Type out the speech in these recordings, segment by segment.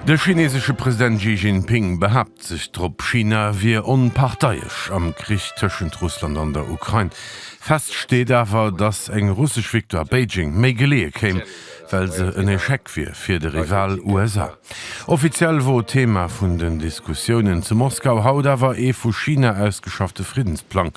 De chinesesche President Xi Jinping behaapt sech drop, China wier onparteiesch am Krich tëschent Russland an der Ukrain. Fest steet awer, datt eng russesch Victoire Beijing méi geleeë kéim, well se en Echec wier fir de Rival USA. Offiziell wor Thema vun den Diskussiounen zu Moskau haut awer ee vu China ausgeschaffte Friddensplang,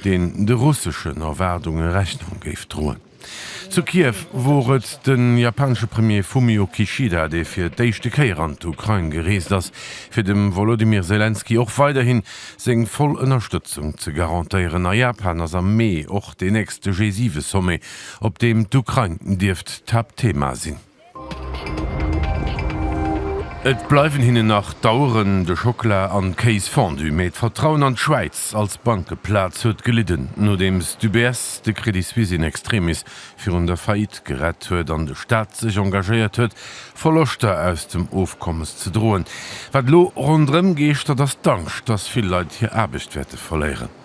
deen de russeschen Erwaardunge Rechnung géif droen. Zu Kiew wor et de japanesche Premier Fumio Kishida, dee fir d'éischte Kéier an d'Ukrain gereest ass, fir dem Wolodymyr Selenskyj och weiderhin seng voll Ënnerstëtzung ze garantéieren. A Japan ass am Mee och deen nächste G7-Sommet, op deem d'Ukrain dierft d'Haaptthema sinn. Et bleiwen hinnen nach d'Aueren, de Schockela an d'Kéis Fondue, mee d'Vertrauen an d'Schwäiz als Bankeplaz huet gelidden, nodeems d'UBS de Credit Suisse in extremis virun der Faillite gerett huet an de Staat sech engagéiert huet, Verloschter aus dem Ofkommes ze droen. Wat elo ronderëm geeschtert, ass d'Angscht, dass vill Leit hir Aarbecht wäerte verléieren.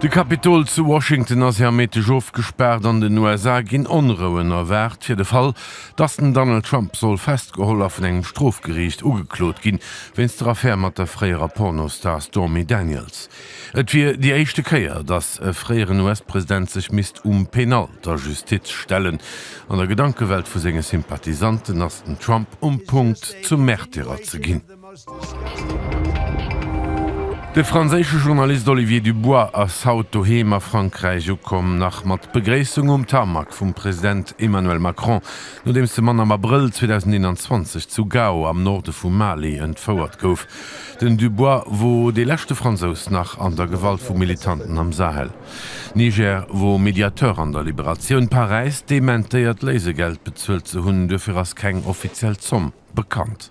De Kapitol zu Washington ass ja Méindeg ofgespaart. An den USA ginn Onrouen erwaart, fir de Fall, dass den Donald Trump soll festgeholl a vun engem Strofgeriicht ugeklot ginn, wéinst der Affär mat der fréierer Pornostar Stormy Daniels. Et wier déi éischte Kéier, dass e fréieren US-President sech misst um Penal der Justiz stellen. An der Gedankewelt vu senge Sympathisanten ass den Trump um Punkt, zum Märtyrer ze ginn. De franséische Journalist Olivier Dubois ass haut doheem a Frankräich ukomm, nach mat Begréissung um Tarmac vum President Emmanuel Macron, nodeems de Mann am Abrëll 2021 zu Gao am Norde vum Mali entfouert gouf. Den Dubois wor dee leschte Fransous nach an der Gewalt vu Militanten am Sahel. Niger wor Mediateur an der Liberatioun. Paräis dementéiert Léisegeld bezuelt ze hunn, duerfir ass keng offiziell Zomm bekannt.